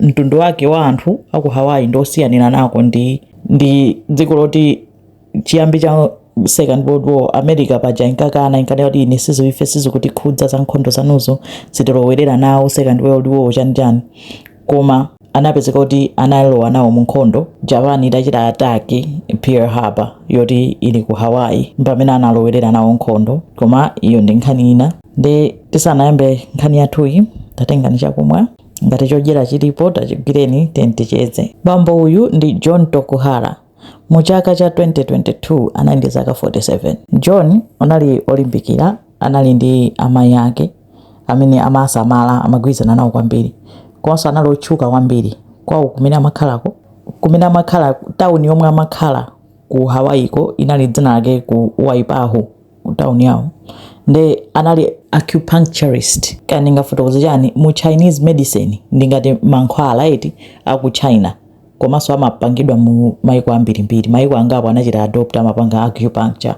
mtundu wake wa anthu aku Hawaii ndi osiyanira nako ndi dziko loti chiyambi cha second world war america paja inkakana inkati ine sizi ife sizikutikhudza za nkhondo zanuzo sitilowerera nawo second world war chani chani koma anapezeka kuti analowa nawo mu nkhondo japan itachita attack pearl harbor yoti ili ku hawaii pamene analowerera nawo nkhondo koma iyo ndi nkhani ina nde tisanayambe nkhani yathuyi tatengani chakumwa ngati chodyera chilipo tachigwireni ticheze bambo uyu ndi john tokuhara mu chaka cha 2022 anali ndi zaka 47 john anali olimbikira anali ndi amayi ake amene amasamala amagwirizana nawo kwambiri komanso anali otchuka kwambiri kwawo kumene amakhalako kumene amakhala tawuni yomwe amakhala ku hawayiko inali dzina lake ku waipahu town yawo nde anali acupuncturist kaya ndingafotokoze chani mu chinese medicine ndi ngati mankhwala eti aku china komanso amapangidwa mu maiko ambirimbiri maiko angapo anachita adopt amapanga acupuncture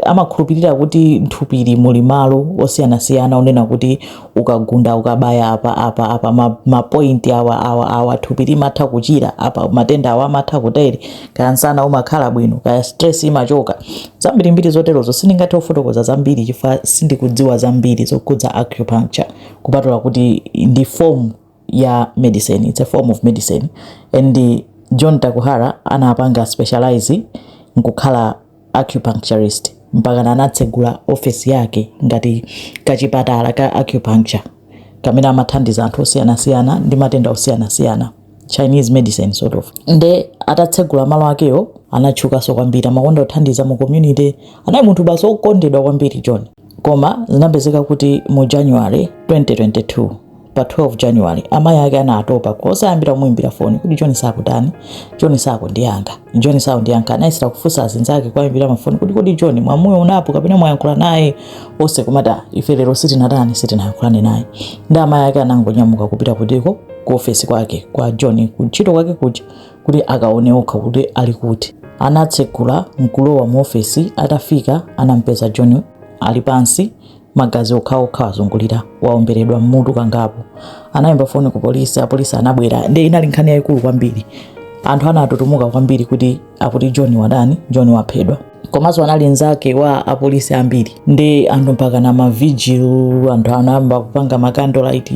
amakhulupirira kuti nthupili muli malo osiyanasiyana onena kuti ukagunda ukabaya apa apa apa ma, ma point awa awa awa thupi limatha kuchira apa matenda awa amatha kutere kaya nsana umakhala bwino kaya stress imachoka zambiri mbiri zoterozo sindingathe kufotokoza zambiri chifukwa sindikudziwa zambiri zokhudza acupuncture kupatula kuti ndi form ya medicine it's a form of medicine and john tokuhara anapanga specialize nkukhala acupuncturist mpakana anatsegula ofesi yake ngati kachipatala ka acupuncture kamene amathandiza anthu osiyanasiyana ndi matenda osiyanasiyana chinese medicine sort of nde atatsegula malo akewa anatchukanso kwambiri amakonda kuthandiza mu community anali munthu basi okondedwa kwambiri john Koma zinapezeka kuti mu January 2022 pa 12 January amayi ake anatopa koyesayesa kumuimbira foni kuti John sakutani, John sakundiyankha, John sakundiyankha. Anayesera kufunsa azinzake kwaimbira mafoni kuti kodi John mwamuonapo kapena mwayankhula naye onse kumati ah, ife lero sitinatani sitinayankhulane naye. Nde amayi ake anangonyamuka kupita kuti ko ku ofesi kwake kwa John kuntchito kwake kuja kuti akaone okha kuti ali kuti anatsegula nkulowa mu ofesi atafika anampeza john ali pansi magazi okhaokha azungulira waomberedwa mmutu kangapo anayimba foni ku polisi apolisi anabwera nde inali nkhani yayikulu kwambiri anthu anatutumuka kwambiri kuti akuti john watani john waphedwa komanso anali nzake wa apolisi ambiri ndi anthu mpaka na mavigil anthu anayamba kupanga ma candlelight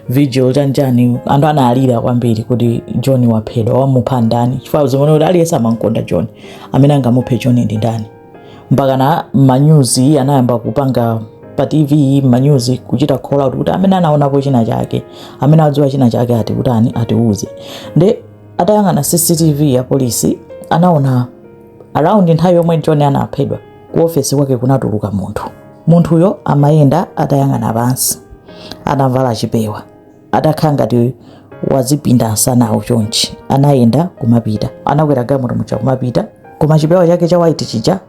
vigil chanjani anthu analira kwambiri kuti john waphedwa wamupha ndani chifukwa zimene kuti aliyense amankonda john amene angamuphe john ndi ndani mpaka na manyuzi anayamba kupanga pa tv manyuzi kuchita call out kuti amene anaonapo china chake amene adziwa china chake ati kutani atiuze nde atayang'ana cctv apolisi anaona Around nthawi yomwe John anaphedwa, ku ofesi kwake kunatuluka munthu. Munthuyo amayenda atayang'ana pansi, atavala chipewa, atakhala ngati wazipinda nsanawu chonchi. Anayenda kumapita, anakwera galimoto muja kumapita, koma chipewa chake cha white chija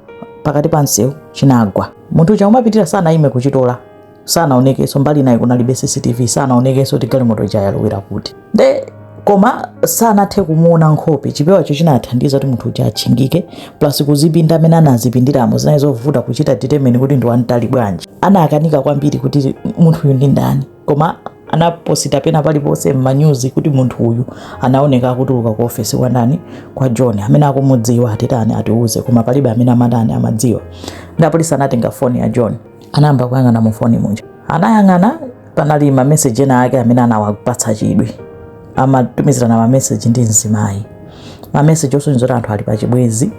pakati pa msewu chinagwa. Munthu uja kumapitira sanayime kuchitola. sanaonekenso mbali inayo kunalibe cctv sanaonekenso kuti galimoto ija yalowera kuti nde koma sanathe kumuona nkhope chipewacho chinathandiza kuti munthu uja atchingike plus kuzipinda amene anazipindiramo zinali zovuta kuchita determine kuti ndi wamtali bwanji anakanika kwambiri kuti munthu uyu ndi ndani koma anaposita pena paliponse m'manyuzi kuti munthu uyu anaoneka akutuluka ku ofesi kwandani kwa john amene akumudziwa atitani atiuze koma palibe amene amatani amadziwa ndapolisi anatenga foni ya john anayamba kuyang'ana mu foni muja anayang'ana panali mameseji ena ake amene anawapatsa chidwi amatumizirana mameseji ndi mzimayi mameseji osonyeza kuti anthu ali pachibwezi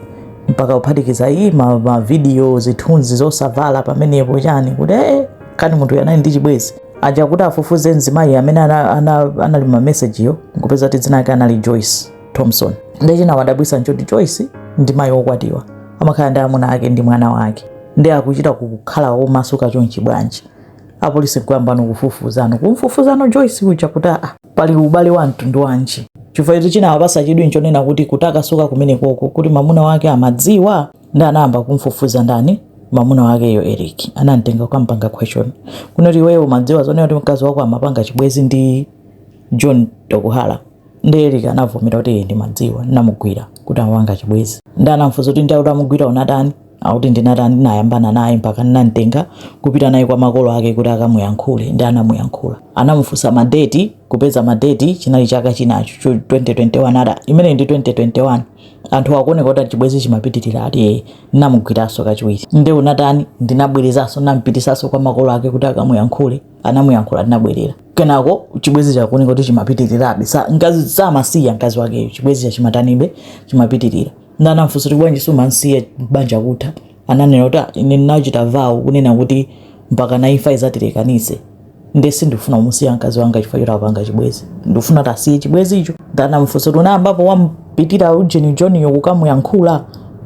mpaka kuphatikiza iyi ma- mavidiyo zithunzi zosavala pamenepo chani kuti ee kani munthu anali ndi chibwezi aja kuti afufuze mzimayi amene ana- ana- anali mamesejiyo nkupeza kuti dzina lake anali joyce Thompson. Ndiye chinawadabwisa nchoti Joyce ndi mayi wokwatiwa amakhala ndi amuna ake ndi mwana wake ndi akuchita kukhala womasuka chonchi bwanji apolisi kuyambano kufufuzano kumfufuzano Joyce uja kuti aa pali ubale wa mtundu wanji chifukwa ichi chinawapasa chidwi nchonena kuti kutakasuka kumeneko kuti mamuna wake amadziwa ndi anayamba kumfufuza ndani mamuna wakeyo Eric anamtenga kukampanga question kunena kuti iweyo umadziwa zonena kuti mkazi wako amapanga chibwezi ndi John Tokuhara ndi Eric anavomera kuti ee ndimadziwa ndinamugwira kuti amapanga chibwezi ndi anamfuza kuti ndi utamugwira unatani akuti ndinatani ndinayambana naye mpaka ndinamtenga kupita naye kwa makolo ake kuti akamuyankhule ndi anamuyankhula anamufunsa madeti kupeza madeti chinali chaka chinacho chu- 2021 ada imene ndi 2021 anthu akuoneka kuti chibwezi chimapitirira ati ee ndinamugwiranso kachiwiri ndi unatani ndinabwerezaso ndinampitisaso kwa makolo ake kuti akamuyankhule anamuyankhula tinabwerera kenako chibwezi chakuoneka kuti chimapitirirabe ngati samasiya mkazi wakeyo chibwezi chija chimatanibe chimapitirira ndanamfunsa kuti bwanji sumansiya banja kutha ananena kuti ah, ine ndinachita vow kunena kuti mpaka na imfa izatilekanise nde sindifuna kumusiya mkazi wanga chifukwa choti akupanga chibwezi ndifuna atasiya chibwezi icho ndanamfunsa kuti unayambapo wampitira ujeni joniyo kukamuyankhula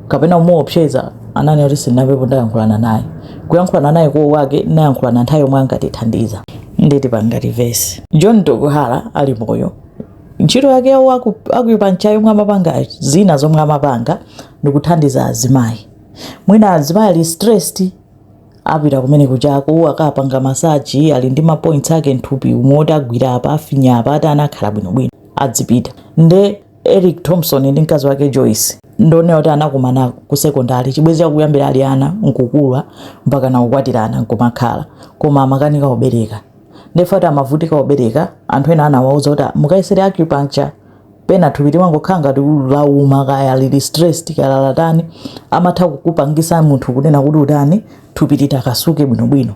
kapena kumuopseza ananena kuti sinapepo ndayankhulana naye kuyankhulana naye kwawo kwake nayankhulana nthawi yomwe ankatithandiza nditi pangati vesi john tokuhara ali moyo ntchito yake yawo acupuncture yomwe amapanga zina zomwe amapanga ndikuthandiza azimayi mwina azimayi ali stressed apita kumene kuchako akapanga massage ali ndi mapoints ake nthupi umu oti agwira apa afinya apa ati anakhala bwinobwino adzipita nde Eric Thompson ndi mkazi wake Joyce ndiwona kuti anakumana ku sekondari chibwezi chakuyambira ali ana nkukula mpaka nakukwatirana nkumakhala koma amakanika kubereka nde ati amavutika kubereka anthu ena anawauza kuti mukayesere acupuncture pena thupi limangokhala ngati lauma kaya lili stressed kaya lalatani amatha kukupangisa munthu kunena kuti utani thupi litakasuke bwinobwino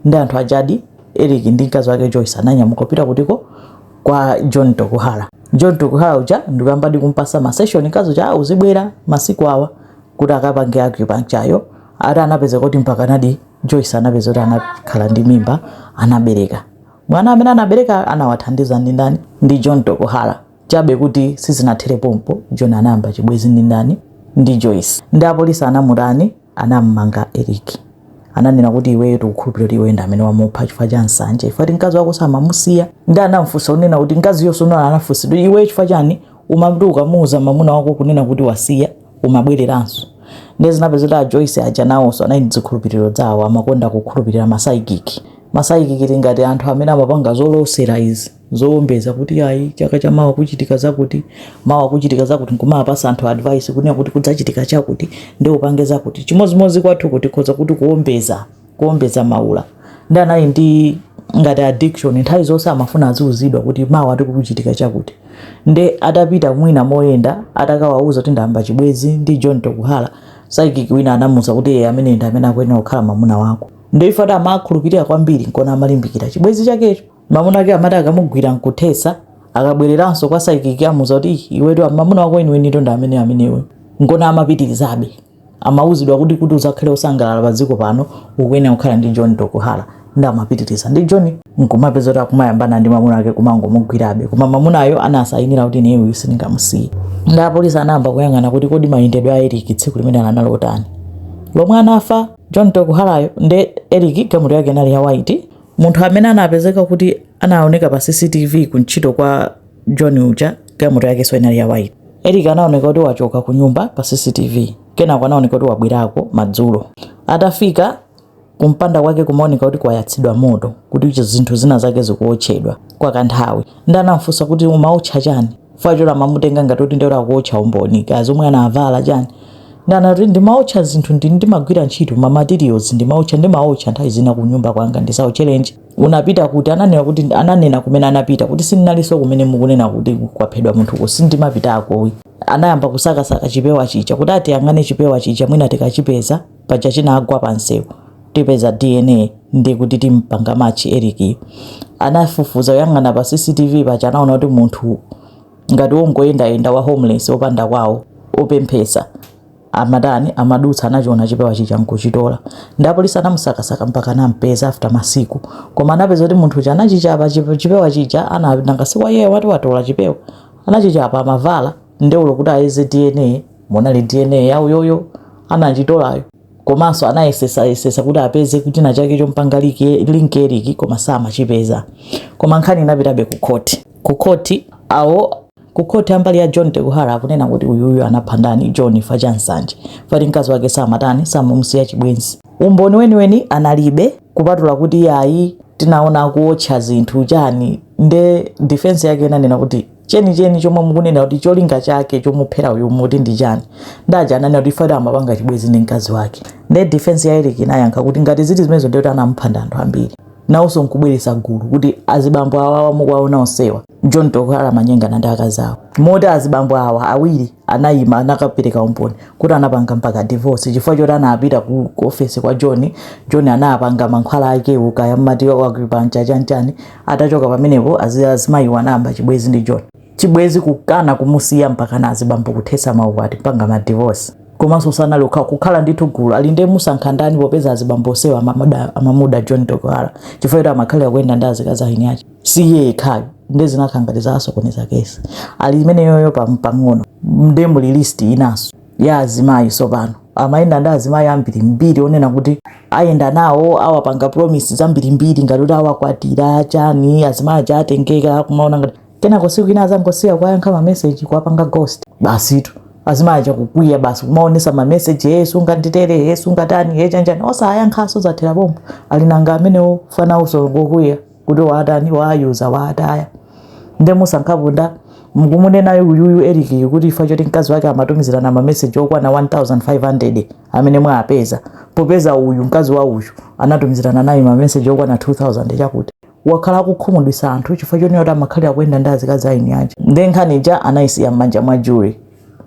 nde anthu ajadi Eric ndi mkazi wake Joyce ananyamuka kupita kutiko kwa John Tokuhara. John Tokuhara uja ndikuyambadi kumpasa ma session kazo cha ah, uzibwera masiku awa kuti akapange acupuncture yo ati anapezeka kuti mpaka nadi Joyce anapezeka kuti anakhala ndi mimba anabereka. Mwana amene anabereka anawathandiza ndi ndani? Ndi John Tokuhara. Chabe kuti sizinathere pompo John anayamba chibwezi ndi ndani? Ndi Joyce. Nde apolisi anamutani anam'manga Eric. Ananena kuti iweyo tikukhulupilira kuti iweyo ndi amene wamupha chifukwa cha nsanje chifukwa kuti mkazi wako samamusiya. Nde anamfunsa kunena kuti mkaziyonso anafunsidwa kuti iweyo chifukwa chani umati ukamuuza mamuna wako kunena kuti wasiya umabweleranso. Nde zinapezeka kuti a Joyce aja nawonso anali ndi zikhulupiliro zawo amakonda kukhulupilira ma psychic. Ma psychic tingati anthu amene amapanga zolosera izi. zowombeza kuti ayi chaka cha mawa kuchitika zakuti mawa kuchitika zakuti nkumawapasa anthu advice kunena kuti kudzachitika chakuti nde upange zakuti chimodzimodzi kwathu kuno tikhoza kuti kuwombeza kuwombeza maula nde anali ndi ngati addiction nthawi zonse amafuna aziuzidwa kuti mawa ati kukuchitika chakuti nde atapita mwina moyenda atakawauza kuti ndayamba chibwezi ndi john tokuhara psychic wina anamuuza kuti iye amene ndi amene akuyenera kukhala mamuna wako nde iye ati amakhulupirira kwambiri nkona amalimbikira chibwezi chakecho mamuna ake amati akamugwira nkuthetsa akabwereranso kwa psychic amuuza kuti iwetu mamuna wako weniwenitu ndi amene amenewe nkona amapitirizabe amauzidwa kuti kuti uzakhale osangalala pa dziko pano ukuyenera kukhala ndi john tokuhara nde amapitiriza ndi john nkumapezeka kuti akumayambana ndi mamuna ake kumangomugwirabe koma mamunayo anasayinira kuti ineyo uyu sindingamusiye nde apolisi anayamba kuyang'ana kuti kodi mayendedwe a eric tsiku limeneli anali otani lomwe anafa john tokuharayo nde eric galimoto yake inali ya white munthu amene anapezeka kuti anaoneka pa cctv kuntchito kwa john uja galimoto yakenso inali ya white eric anaoneka kuti wachoka ku nyumba pa cctv kenako anaoneka kuti wabwerako madzulo atafika kumpanda kwake kumaoneka kuti kwayatsidwa moto kuti zinthu zina zake zikuotchedwa kwa kanthawi nde anamfunsa kuti umaotcha chani chifukwa choti amamutenga ngati kuti ndekuti akuotcha umboni kaya zomwe anavala chani nde anati ndimaotcha zinthu ndi ndimagwira ntchito ma materials ndimaotcha ndimaotcha nthawi zina ku nyumba kwanga ndisaotcherenji unapita kuti ananena kuti ananena kumene anapita kuti sindinalinso kumene mukunena kuti kwaphedwa munthuko sindimapitako anayamba kusakasaka chipewa chija kuti atiyang'ane chipewa chija mwina tikachipeza paja chinagwa pa nsewu tipeza dna nde kuti timpanga match Eric yu. Anafufuza kuyang'ana pa CCTV paja anaona kuti munthu ngati wongoyendayenda wa homeless opanda kwawo opemphesa amatani amadutsa anachiona chipewa chija nkuchitola nde apolisi anamusakasaka mpaka anampeza after masiku koma anapeza kuti munthu uja anachichapa chipewa chija ana nanga si wayeyo wati watola chipewa anachichapa amavala nde olo kuti ayeze dna munali dna ya uyoyo anachitolayo komanso anayesesayesesa kuti apeze kuti china chake chompanga link eric koma samachipeza koma nkhani inapitabe ku khoti ku khoti awo ku khoti a mbali ya john tokuhara akunena kuti uyuyu anapha ndani john ifa cha nsanje fati mkazi wake samatani samumusiya chibwenzi umboni weniweni analibe kupatula kuti ayi tinaona akuotcha zinthu chani nde defense yake inanena kuti chenicheni chomwe mukunena kuti cholinga chake chomuphera uyu muti ndi chani nde aja ananena kuti ifa choti amapanga chibwezi ndi mkazi wake nde defense ya Eric inayankha kuti ngati ziti zimenezo ndiye kuti anamupha ndi anthu ambiri nawonso nkubweretsa gulu kuti azibambo awawa mukuwaona onsewa John Tokuhara amanyengana ndi akazi awo moti azibambo awa awiri anayima anakapereka umboni kuti anapanga mpaka divorce chifukwa choti anapita ku ku office kwa John John anapanga mankhwala akewo kaya mmati acupuncture chanchani atachoka pamenepo azi- azimayiwo anayamba chibwezi ndi John chibwezi kukana kumusiya mpaka ena azibambo kuthesa maukwati kupanga ma divorce komanso sanali okha kukhala ndithu gulu ali ndi musankha ndani popeza azibambo osewa amamuda, amamuda John Tokuhara chifukwa choti amakhalira kuyenda ndi azikazi a eni ache si iye yekhayo nde zinakhala ngati zasokoneza kesi ali imeneyoyo pam- pang'ono nde muli list inanso ya azimayi sopano amayenda ndi azimayi ambirimbiri onena kuti ayenda nawo awapanga promise zambirimbiri ngati kuti awakwatira chani azimayi aja atengeka kumaona ngati kenako siku ina azangosiya kuwayankha mameseji kuwapanga ghost basitu azimayi aja kukwiya basi kumaonesa mameseji ye sunganditere ye sungatani ye chanchani osayankhaso zathera pompo ali nanga amenewo ifa nawoso ngokwiya kuti waatani waayuza waataya nde musankhapo ndani mukumunenayo uyuyu erikiyu kuti ifa choti mkazi wake amatumizirana mameseji okwana 1500 amene mwapeza popeza uyu mkazi wa uyu anatumizirana naye mameseji okwana 2000 chakuti wakhala akukhumudwisa anthu chifukwa chonena kuti amakhalira kuyenda ndi azikazi a eni ache nde nkhani ija anayisiya m'manja mwa jury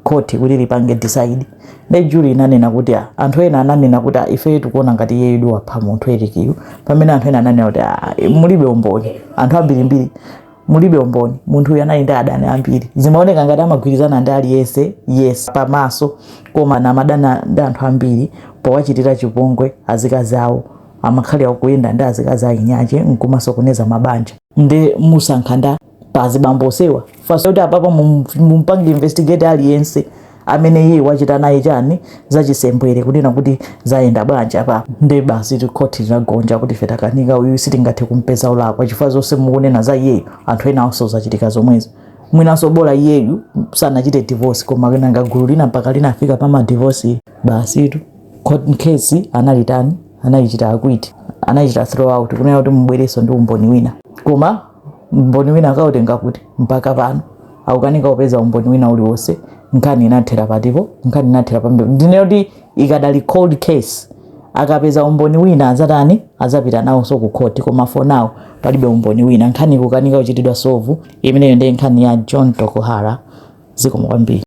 khoti kuti lipange decide nde juri inanena kuti ah, anthu ena ananena kuti ah, ifeyo tikuona ngati iyeyu ndi wapha munthu Eric uyu pamene anthu ena ananena kuti ah, mulibe umboni anthu ambirimbiri mulibe umboni munthu uyu anali ndi adani ambiri zimaoneka ngati amagwirizana ndi aliyense yes pamaso koma ankadana ndi anthu ambiri powachitira chipongwe azikazi awo amakhalira kuyenda ndi azikazi a anzake nkumasokoneza mabanja nde musankha ndani pa azibambo onsewa fasa kuti apapa mumpange investigate aliyense amene iye wachita naye chani zachisembwere kunena kuti zayenda bwanji apa nde basitu khoti linagonja kuti ife takanika uyu sitingathe kumpeza wolakwa chifukwa zonse mukunena za iyeyo anthu ena onse zachitika zomwezo mwinanso bola iyeyu sanachite divorce koma kenaka gulu lina mpaka linafika pa madivorce basitu court case anayitani anayichita acquit anayichita throw out kunena kuti mubwerenso ndi umboni wina koma umboni wina akautenga kuti mpaka pano akukanika kupeza umboni wina uliwonse nkhani inathera pati apa nkhani inathera pompo ndiye kuti ikadali cold case akapeza umboni wina azatani azapita nawonso ku khoti koma for now palibe umboni wina nkhani ikukanika kuchitidwa solve imeneyo ndiye nkhani ya Jon Tokuhara zikomo kwambiri